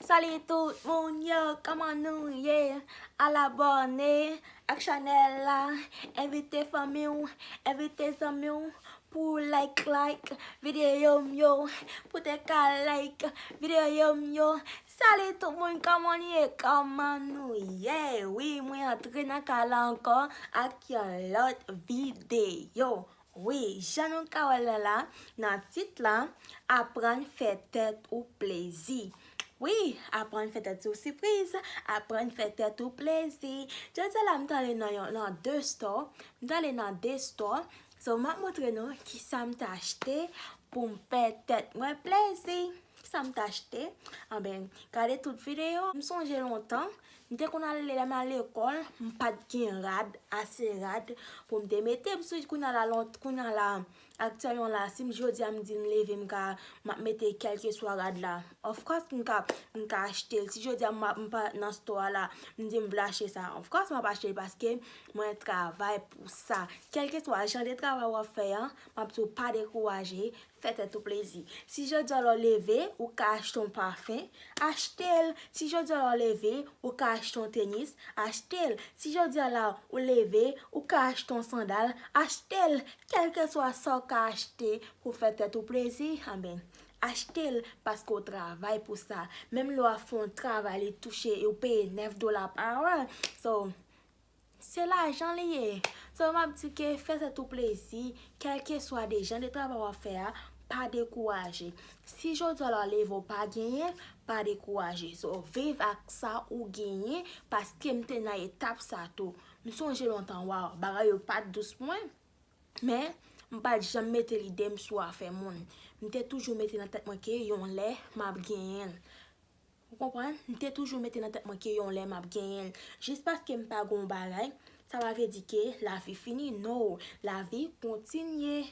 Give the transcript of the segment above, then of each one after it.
Salut tout moun yo kòman nou ye al abòne ak chanèl la envite fanmi w envite zanmi w pou w like like videyo m yo pou te ka like videyo m yo salut tout moun kòman nou ye kòman nou ye wi mwen antre nan kay la ankò ak yon lòt videyo Wi, jan nou ka wè l nan la, nan tit la, Aprann fè tèt ou plezi. Wi, aprann fè tèt ou sipriz, aprann fè tèt ou plezi. Jodi a la m ta ale nan yon, nan de stò, m ta ale nan de stò, so m ap montre nou ki sa m ta achte pou m fè tèt mwen plezi. Ki sa m ta achte? Anben, gade tout videyo. M sonje lontan, M te konn ale lèm al lekòl, m pat gen rad, ase rad poum te mete m sou kounya la lont kounya la aktyèlman la sim jodia m di m leve m ka map mete kèlkeswa rad la of course m ka m ka achte l si jodia m m pa nan stò a la m di m vle achte sa of course map achte l paske mwen travay pou sa kèlkeswa jan de travay wap fè an map di w pa dekouraje Fè tèt ou plezi. Si jodi a lè w leve, ou ka achte yon pafen, achte l. Si jodi a lè w leve, ou ka achte yon tenis, achte l. Si jodi a la ou leve, ou ka achte yon sandal, achte l. Kèlkeswa sa w ka achte pou fè tèt ou plezi, anben, achte l paske w travay pou sa. Menm lè w ap fè yon travay li touche, yo peye 9 dola pa wè. So, Se lajan li ye. So map di ke fè tèt ou plezi, kèlkeswa de jan de travay wap fè a, pa dekouraje. Si jodi a la leve ou pa genyen, pa dekouraje. So viv ak sa ou genyen, paske m te nan etap sa tou. M sonje lontan waw, bagay yo pat dous pou mwen, men m pat janm mete lide m sou afè moun. M te toujou mete nan tèt mwen ke yon lè map genyen l. Ou konprann? M te toujou mete nan tèt mwen ke yon lè map genyen l. Jis paske m pa gen yon bagay, sa pa vle di ke lavi fini. No! Lavi kontinye.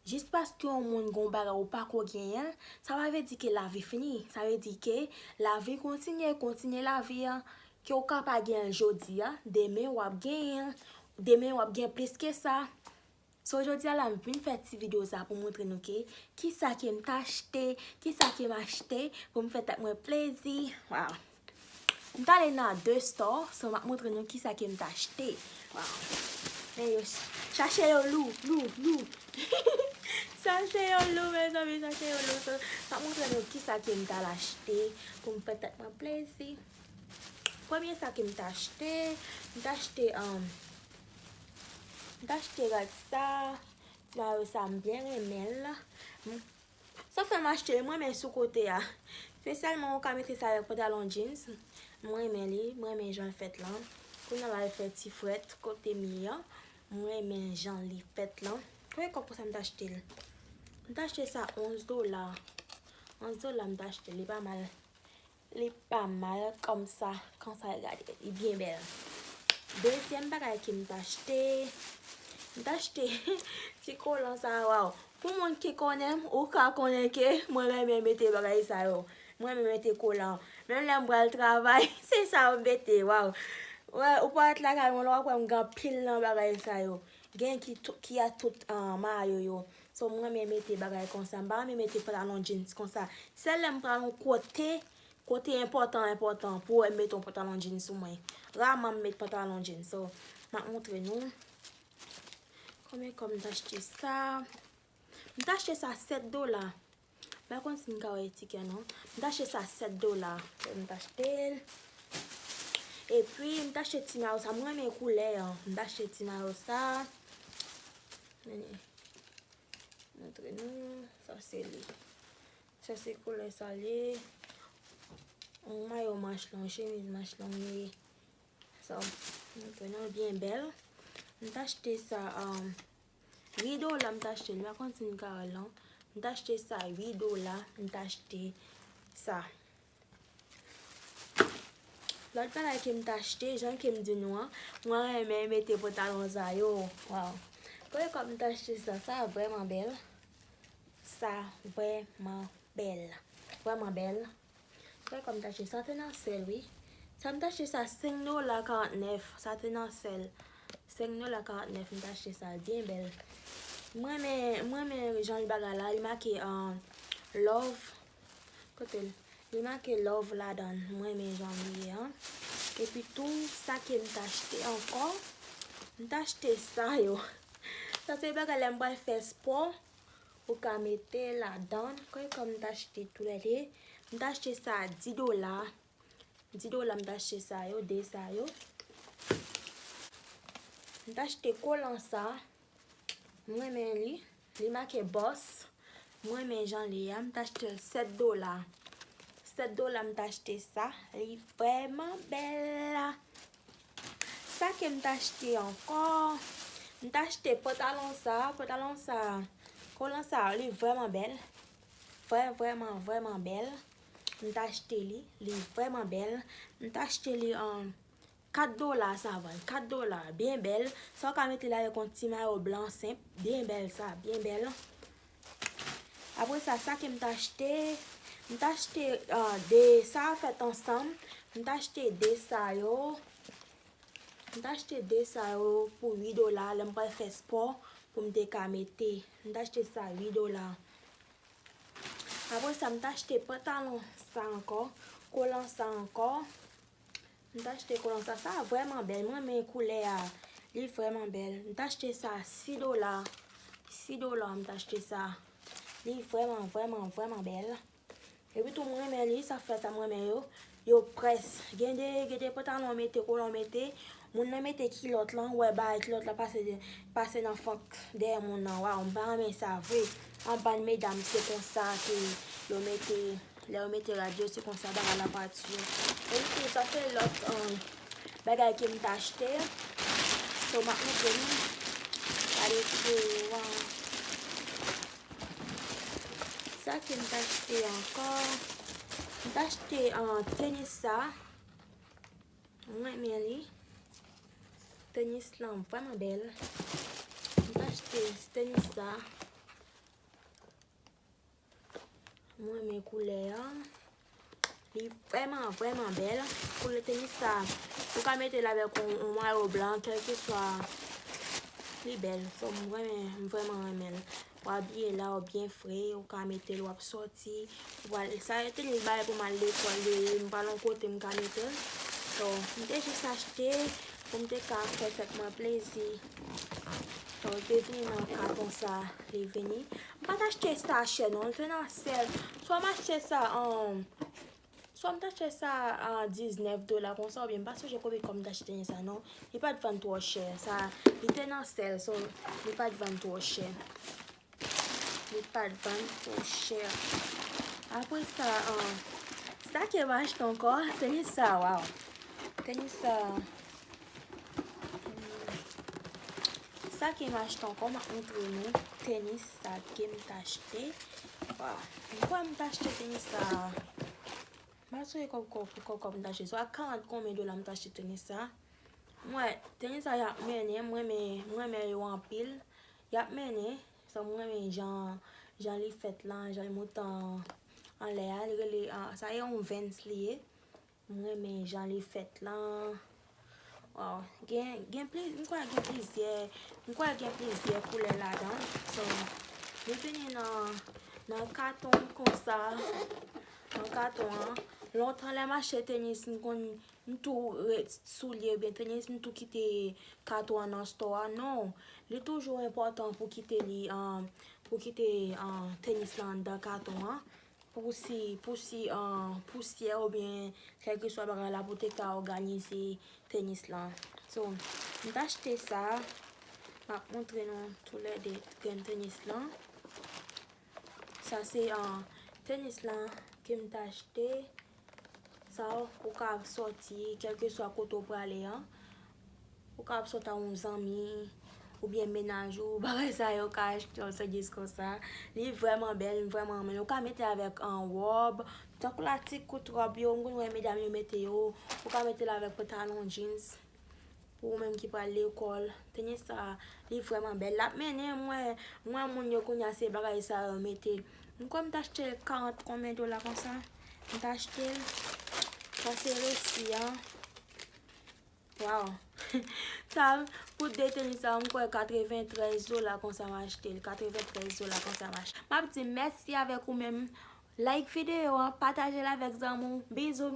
Jis paske yon moun gen yon bagay ou pako genyen l, sa pa vle di ke lavi fini. Sa vle di ke lavi kontinye, kontinye lavi an. Ke ou ka pa genyen l jodi a, demen wap genyen l. Demen wap gen plis ke sa. So jodia la m vin fè ti video sa pou montre nou ke kisa kem ta achte, kisa kem achte pou m fè tèt mwen plezi waw m ta ale nan 2 store so map montre nou kisa kem ta achte waw men yo chache yo lou lou lou hihihi chache yo lou mezanmi chache yo lou so map montre nou kisa kem tal achte pou m fè tèt mwen plezi premye sa kem ta achte m ta achte M ta achte rad sa. Ti mayo sa m byen renmen l. Sa fè m achte l, m renmen sou kote a. Spesyalman ou ka mete sa avèk pantalon jeans. M renmen li, m renmen jan l fèt lan. Pou nan al fè ti frèt kote m ye an. M renmen jan li fèt lan. Konbyen kòb pou sa m ta achte l? M ta achte sa 11 dola. 11 dola m ta achte l. Li pa mal. Li pa mal komsa. Konsa gade li byen bel. Dezyem bagay kem t achte. M t achte ti kolan sa waw. Pou moun ki konnenm ou ka konnen ke mwen renmen mete bagay sa yo. M renmen mete kolan. Menm lem pral travay se sa m mete waw. Ou pa ret lakay mwen la wap wem gen anpil nan bagay sa yo. Gen ki a tout mayo yo. So m renmen mete bagay konsa. M pa renmen mete pantalon jeans konsa. Sèl lè m pral yon kote, kote enpòtan enpòtan pou wè m mete yon pantalon jeans sou mwen. Raman m met pantalon jeans. So, m ap montre nou. Konbyen kòb m t achte sa? M t achte sa 7 dola. Mpa konn si m ka wè etikè non. M ta achte sa 7 dola. M ta achte l. E pi m ta achte ti mayo sa. M renmen koulè an. M ta achte ti mayo sa. Meni. Montre nou. Sa se li. Sa se koulè sa li ye. Yon mayo manch long. Yon chemiz manch long li ye. Sa. Montre nou. L byen bèl. M ta achte sa. Rido la m t achte, m pa konn si m ka wè l non. M t achte sa 8 dola, m t achte sa. Lòt bagay ke m t achte, jan ke m di nou an, mwen renmen mete potalon sa yo. Waw! Premye fwa m t achte sa, sa vrèman bèl. Sa vrèman bèl. Vrèman bèl. Gade kòm tache sa te nan sèl wi. Sa m tache sa 5 dola 49 sa te nan sèl. 5 dola 49 m tache sa l byen bèl. M renmen m renmen jan li bagay la li make love kote l li make love ladan l m renmen jan l ye an. Epi tou sa ke m t achte ankò m t achte sa yo. Sa se bagay lè m pral fè spò. Ou ka mete ladan kòy kòm m t achte tou lè 2. M t achte sa a 10 dola. 10 dola m t achte sa yo, 2 sa yo. M t achte kolan sa a. M renmen li. Li make Boss. M renmen jan li a. M t achte l 7 dola. 7 dola m t achte sa. Li vrèman bèl. Sa ke m t achte ankò, m t achte pantalon sa, pantalon sa, kolan sa li vrèman bèl, vrè vrèman vrèman bèl, m t achte li, li vrèman bèl, m t achte li an 4 dola sa vann, 4 dola, byen bèl, sa w ka mete l avèk yon ti mayo blan senp, byen bèl sa, byen bèl. Apre sa, sa ke m t achte, m t achte de sa a fèt ansanm, m t achte de sa yo, m t achte de sa yo pou 8 dola lè m pral fè spò pou m te ka mete. M t achte sa 8 dola. Apre sa, m t achte pantalon sa ankò, kolan sa ankò, M t achte kolon sa. Sa vreman bel. M renmen koulè a. Li vreman bel. M t achte sa 6 dola. 6 dola m t achte sa. Li vreman vreman vreman bel. E pi tou m renmen li. Sa fè sa m renmen yo. Yo pres. Gen de pantalon mete kolon mete. Moun nan mete kilot lan. Ou e ba kilot la pase nan fank dè moun nan. Waw m pa renmen sa vre. Anbann medam se konsa ke yo mete. Lè yo mete radyo se konsa bagay la pati. Epi tou sa se lòt bagay ke m t achte. So m ap montre nou. Gade fo yo an. Sa ke m t achte ankò. M t achte tenis sa. M renmen li. Tenis lan vwèman bèl. M t achte tenis sa. M renmen koulè an. Li vreman, vreman bel. Koulè tenis sa. Ou ka mete la vek yon mayo blan. Kèl ki swa. Li bel. So m renmen. M vreman renmen. Ou abiye la ou byen fre. Ou ka mete l wap soti. Sa e tenis ba e pou mal lekol. M pa nan kote m ka mete l. So m te jis achte. Pou m te ka fè tet mwen plezi. So l te vini nan katon sa. Li vini. M pat achte sa chè non, l fenna sèl. Swa m achte sa an, swa m t achte sa a 19 dola konsa oubyen m pa sonje konbyen kòb m t achte nen sa non. Li pat vann twò chè. Sa, li te nan sèl so li pat vann twò chè. Li pat vann twò chè. Apre sa an, sa ke m achte ankò, se nen sa, waw. Tenis sa. Sa kem achte anko map montre nou tenis sa kem t achte waw poukisa m t achte tenis sa mpa swe kob kob pou kob kob m t achte swa 40 konbyen dola m t achte tenis sa m wè tenis sa yap mennen m renmen yo anpil yap mennen m renmen jan li fèt la jan li monte anlè a sa se yon vans li ye. M renmen jan li fèt lan. Waw gen gen pliz m kwè gen plizyè m kwè gen plizyè koulè ladan l so li vini nan nan katon konsa nan katon an lontan lè m achte tenis m konn m tou ret soulye oubyen tenis m tou kite katon an nan stò a non li toujou enpòtan pou kite li pou kite tenis lan anndan katon an Pou si pou si pousyè oubyen kèlkeswa bagay la pou te ka òganize tenis lan. So, m t achte sa. M ap montre nou toulède grenn tenis lan. Sa se tenis lan ke m t achte. Sa ou ka soti kèlkeswa kote ou prale an. Ou ka ap sot a yon zanmi, ou byen menaj ou, bagay sa yo ka achte yon sèvis konsa. Li vreman bèl, m vreman renmen l. Ou ka mete l avèk yon wòb, tankou la ti kout wòb yo, m konn wè medam yo mete yo. Ou ka mete l avèk pantalon jeans, pou ou menm ki pral lekòl. Tenye sa, li vreman bèl. L ap mennen m wè, m wè moun yo kounye a se bagay sa yo mete. M kwè m t achte l 40 konbyen dola konsa. M t achte l, sa se resi an. Waww sa pou de tenis sa m kwè 93 dola konsa m achte l 93 dola konsa m achte l map di mèsi avèk ou menm like videyo an patajel avèk zanmi w bizou.